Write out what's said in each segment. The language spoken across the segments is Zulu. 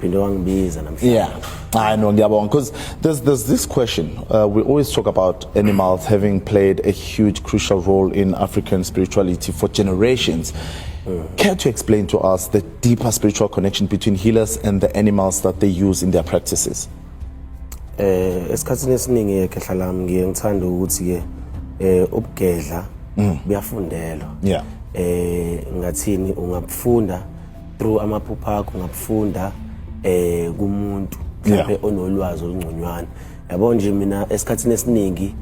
phinde wangibiza namhlanje yeah I know ngiyabonga because there's there's this question uh, we always talk about animals having played a huge crucial role in African spirituality for generations mm. care to explain to us the deeper spiritual connection between healers and the animals that they use in their practices eh esikhatsini esiningi ke hlala ngiye ngithanda ukuthi ke eh ubugedla mm. buyafundelwa yeah eh ngathini ungabufunda through amaphupha akho ngabufunda eh kumuntu mhlawumbe onolwazi olungconywana yabo nje mina esikhathini esiningi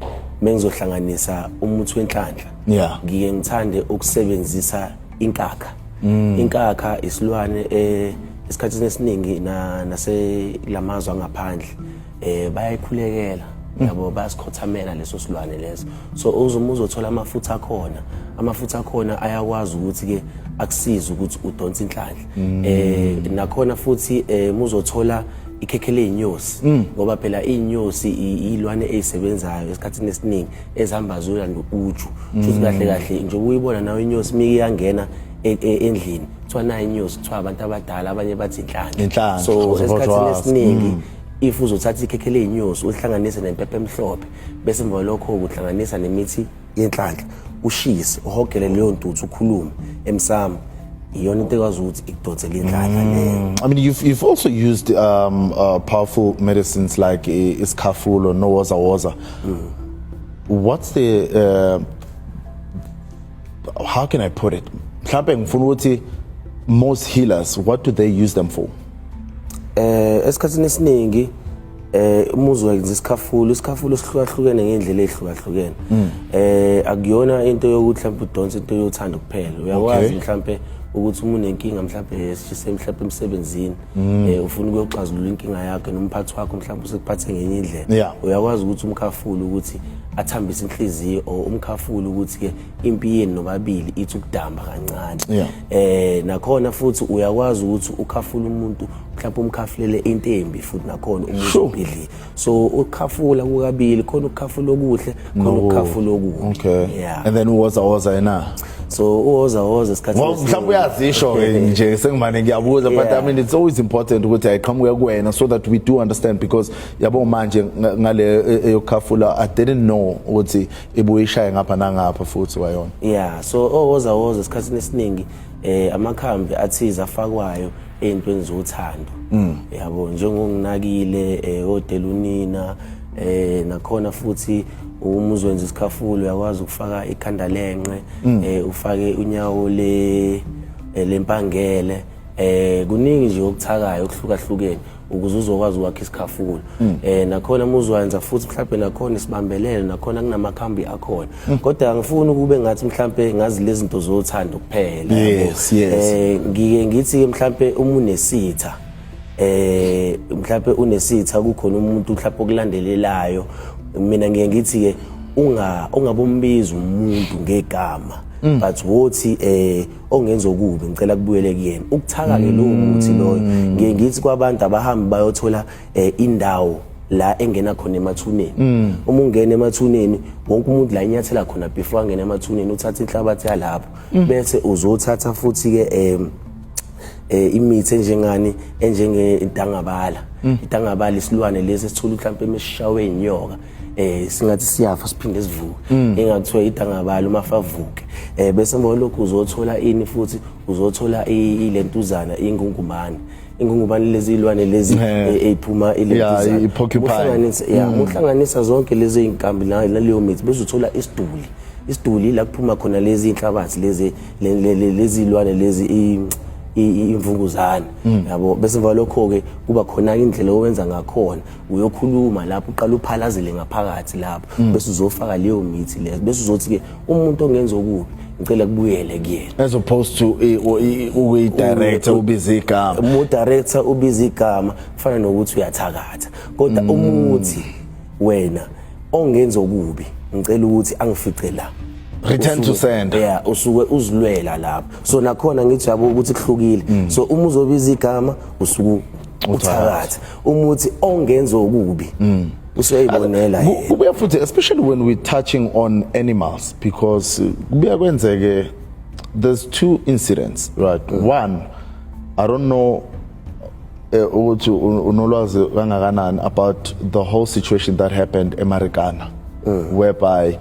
mengizohlanganisa umuthi wenhlanhla yeah. ngike ngithande ukusebenzisa inkakha mm. inkakha isilwane eh esikhathini esiningi na naselamazwe angaphandle eh bayayikhulekela yabo basikhothamela leso silwane leso so uzuma uzothola amafutha akhona amafutha akhona ayakwazi ukuthi ke akusize ukuthi udonse inhlanhla mm. eh nakhona futhi eh muzothola ikhekhe leyinyosi mm. ngoba phela inyosi ilwane ezisebenzayo esikhathini esiningi ezihamba zoya nokuju futhi mm. kahle kahle nje uyibona nayo inyosi mike yangena e, e, endlini kuthiwa nayo inyosi kuthiwa abantu abadala abanye bathi inhlanhla so esikhathini esiningi if uzothatha ikhekhe ley'nyosi ulihlanganise nempepha emhlophe bese emva lokho ukuhlanganisa nemithi yenhlanhla ushise uhogele leyo ntuthu ukhulume emsamo iyona into ekwazi ukuthi ikudonsele indlala mm. leyo i mean you've, you've also used um, uh, powerful medicines like isikhafulo nowozawoza mm. what's the uh, how can i put it mhlawumbe ngifuna ukuthi most healers what do they use them for eh esikhathini esiningi eh umuzi wenza isikhafulo isikhafulo sihlukahlukene ngendlela ehlukahlukene hmm. eh akuyona into yokuthi mhlawumbe udonse into yothanda kuphela uyakwazi mhlawumbe ukuthi umuntu nenkinga mhlawumbe yesishise mhlawumbe emsebenzini Mm. Eh ufuna ukuyoxazulula inkinga yakhe nomphathi wakho mhlawumbe usekuphathe ngenye indlela. Uyakwazi ukuthi umkhafule ukuthi athambise inhliziyo or umkhafule ukuthi ke impi yenu nobabili ithi ukudamba kancane. Eh nakhona futhi uyakwazi ukuthi ukhafule umuntu mhlawumbe umkhafulele into embi futhi nakhona umuntu obhidlile. so ukhafula kukabili khona ukukhafula okuhle khona ukukhafula okubi okay yeah. and then uwoza woza yena so uwoza woza isikhathi mhlawumbe uyazisho nje sengimane ngiyabuza but i mean it's always important ukuthi ayiqhamuke kuwena so that we do understand because yabo manje ngale e, e, yokukhafula i didn't know ukuthi ibuye ishaye ngapha nangapha futhi wayona yeah so owoza woza isikhathi esiningi eh amakhambi athiza afakwayo into enza uthando mm. yabo njengonginakile eh, odela unina eh nakhona futhi uma uzwenza isikhafulo uyakwazi ukufaka ikhanda lenqe mm. eh ufake unyawo le eh, lempangele eh kuningi nje okuthakayo okuhlukahlukene ukuze uzokwazi ukwakha isikhafulo mm. eh nakhona muzoyenza futhi mhlawumbe nakhona isibambelele nakhona kunamakhambi akhona mm. kodwa ngifuna ukube ngathi mhlawumbe ngazi lezi zinto zothanda kuphela yes yes eh ngike ngithi mhlawumbe uma unesitha eh mhlawumbe unesitha kukhona umuntu mhlawumbe okulandelelayo mina ngiye ngithi ke unga ungabombiza umuntu ngegama mm. but wothi eh ongenza okubi ngicela kubuyele kuyena ukuthaka ke lowo muthi loyo mm. ngiye ngithi kwabantu abahambi bayothola eh, indawo la engena khona emathuneni mm. uma ungena emathuneni wonke umuntu la inyathela khona before angena emathuneni uthatha inhlabathi yalapho mm. bese uzothatha futhi ke um eh imithi enjengani enjenge idangabala idangabala isilwane lesi esithola mhlawumbe emeshawe inyoka eh singathi siyafa siphinde sivuke mm. engakuthiwa idangabala uma favuke eh bese ngolokhu uzothola ini futhi uzothola ilentuzana ingungumane ingungubane lezi ilwane lezi eziphuma e, ilentuzana uhlanganisa ya mm. uhlanganisa zonke lezi inkambi naleyo mithi bese uthola isiduli isiduli la kuphuma khona lezi inhlabathi lezi lezi ilwane lezi imvunguzane mm. yabo bese ngalokho ke kuba khona indlela owenza ngakhona uyokhuluma lapho uqala uphalazele ngaphakathi lapho mm. bese uzofaka leyo mithi leyo bese uzothi ke umuntu ongenza okubi ngicela kubuyele kuyena as opposed to ukuyi director ubiza igama umu director ubiza igama kufana nokuthi uyathakatha kodwa mm. umuthi wena ongenza okubi ngicela ukuthi angifice la return to sender yeah usuke uzilwela lapho so nakhona ngithi yabo ukuthi kuhlukile mm. so uma uzobiza igama usuku uthakatha umuthi ongenza okubi mm. usuyayibonela kubuya futhi especially when we touching on animals because uh, kubuya kwenzeke there's two incidents right mm. one i don't know eh, ukuthi unolwazi kangakanani about the whole situation that happened emarikana mm. whereby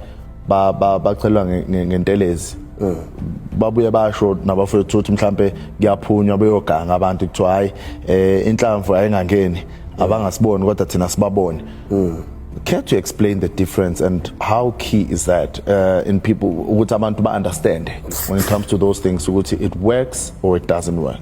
bacelwa ngentelezi mm. babuye basho nabafowethu ukuthi mhlambe kuyaphunywa beyoganga abantu kuthiwa hayi eh inhlamvu ayingangeni mm. abangasiboni kodwa thina sibabone mm. care to explain the difference and how key is that uh, in people ukuthi abantu ba understand when it comes to those things ukuthi it works or it doesn't work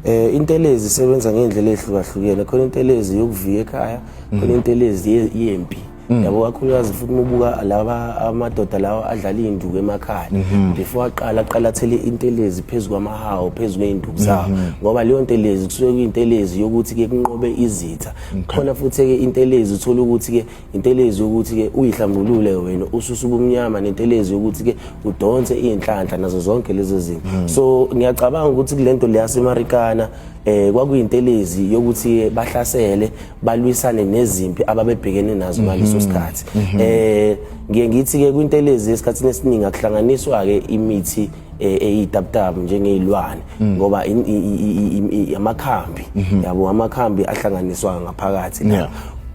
eh intelezi isebenza ngendlela ehlukahlukene khona intelezi yokuviya ekhaya khona mm-hmm. intelezi yempi Mm. yabo kakhulukazi futhi mubuka laba amadoda lawa adlala iy'nduku emakhaya mm-hmm. before aqala aqala athele intelezi phezu kwamahawu phezu kwey'nduku zawo mm-hmm. ngoba leyo ntelezi kusuke kuyintelezi yokuthi-ke kunqobe izitha khona futhi-ke intelezi uthole ukuthi-ke intelezi yokuthi-ke uyihlambulule wena ususa ubumnyama nentelezi yokuthi-ke udonse iy'nhlanhla nazo zonke lezo zinto mm. so ngiyacabanga ukuthi kule nto leyasemarikana eh kwakuyintelezi yokuthi bahlasele balwisane nezimpi ababebhekene nazo ngaleso mhm. sikhathi mhm. eh ngiye ngithi ke kwintelezi esikhathini esiningi akuhlanganiswa ke imithi eh, eyitaptapu njengezilwane mm. ngoba amakhambi mhm. yabo amakhambi ahlanganiswa ngaphakathi la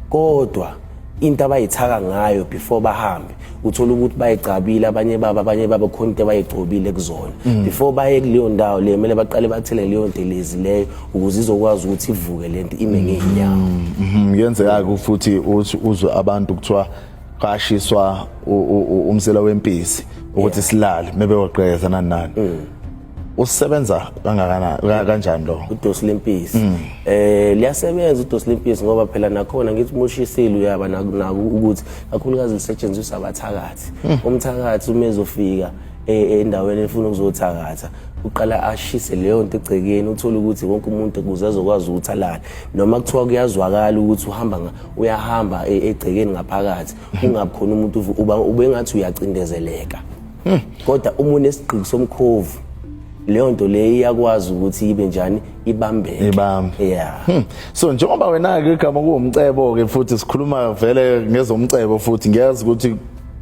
kodwa into abayithaka ngayo before bahambe uthola ukuthi bayigcabile abanye baba abanye baba khona into abayigcobile kuzona mm. before baye kuleyo ndawo le kumele baqale bathele leyo ntelezi leyo ukuze izokwazi ukuthi ivuke le nto ime ngeenyawo mm, mm-hmm. kuyenzeka-ke futhi uthi uzwe abantu kuthiwa kashiswa umsela wempisi ukuthi silale mebeyoqeza nani nani mm. usebenza kangakanani ka- kanjani lo udosi lempisi Mm. eh liyasebenza udosi lempisi ngoba phela nakhona ngithi mushisile uyaba naku naku ukuthi kakhulukazi lisetshenziswa abathakathi Mm. umthakathi uma ezofika eh, endaweni efuna ukuzothakatha uqala ashise leyo nto egcekeni uthole ukuthi wonke umuntu kuze azokwazi ukuthi alale noma kuthiwa kuyazwakala ukuthi uhamba nga- uyahamba e- egcekeni ngaphakathi kungabi khona umuntu uvu- uba ubengathi uyacindezeleka Hmm. kodwa uma unesigqiki somkhovu leyo nto leyo iyakwazi ukuthi ibe njani ibambeke Ibambe. yeah Hmm. so njengoba wena-ke igama kuwumcebo-ke futhi sikhuluma vele ngezomcebo futhi ngiyazi ukuthi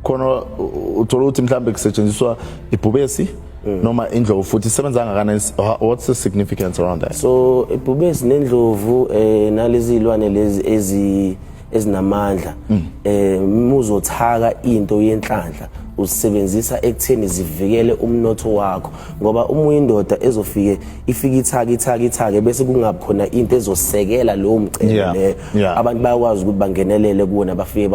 khona u- uthola ukuthi mhlawumbe kusetshenziswa ibhubesi Mm. noma indlovu futhi isebenza kangakanani S- wha- what's the significance around that so ibhubesi nendlovu eh nalezi zilwane lezi ezi ezinamandla mm. eh muzothaka into yenhlanhla uzisebenzisa ekutheni zivikele umnotho wakho ngoba uma uyindoda ezofike ifike ithaka ithaka ithake bese kungakhona into ezosekela lowo mcebo yeah. leyo yeah. abantu bayakwazi ukuthi bangenelele kuwona bafike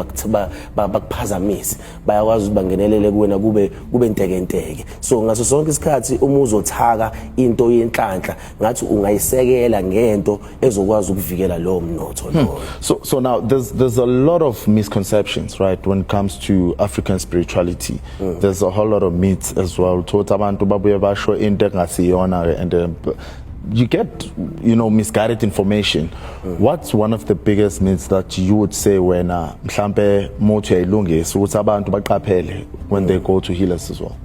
bakuphazamise bayakwazi ukuthi bangenelele kuwena kube kube ntekenteke so ngaso sonke isikhathi uma uzothaka into yenhlanhla ngathi ungayisekela ngento ezokwazi ukuvikela lowo mnotho hmm. lowo so so now there's there's a lot of misconceptions right when it comes to african spirituality mm. there's a whole lot of myths as well thothi abantu babuye basho into engasiyona and uh, you get you know misguided information mm. what's one of the biggest myths that you would say wena mhlambe muthi uyayilungisa ukuthi abantu baqaphele when mm. they go to healers as well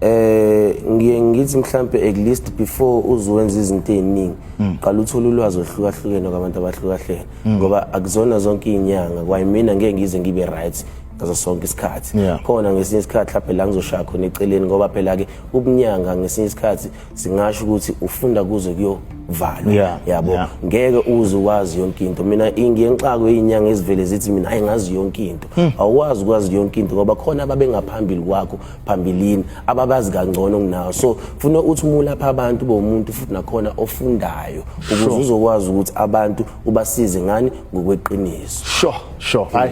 eh ngiye ngithi mhlambe at least before uzowenza izinto eziningi hmm. qala uthola ulwazi ohlukahlukene kwabantu abahlukahlene hmm. ngoba akuzona zonke izinyanga kwayimina ngeke ngize ngibe right ngaso sonke isikhathi khona ngesinye isikhathi laphe la ngizoshaya khona eceleni ngoba phela ke ubunyanga ngesinye isikhathi singasho ukuthi ufunda kuze kuyovalwa yeah, yabo yeah. ngeke uze wazi yonke into mina ngiye ngixakwe izinyanga ezivele zithi mina hayi ngazi yonke into hmm. awukwazi ukwazi yonke into ngoba khona ababengaphambili kwakho phambilini ababazi kangcono kunawo so funa uthi uma ulapha abantu bomuntu futhi nakhona ofundayo ukuze uzokwazi ukuthi abantu ubasize ngani ngokweqiniso sure sure hayi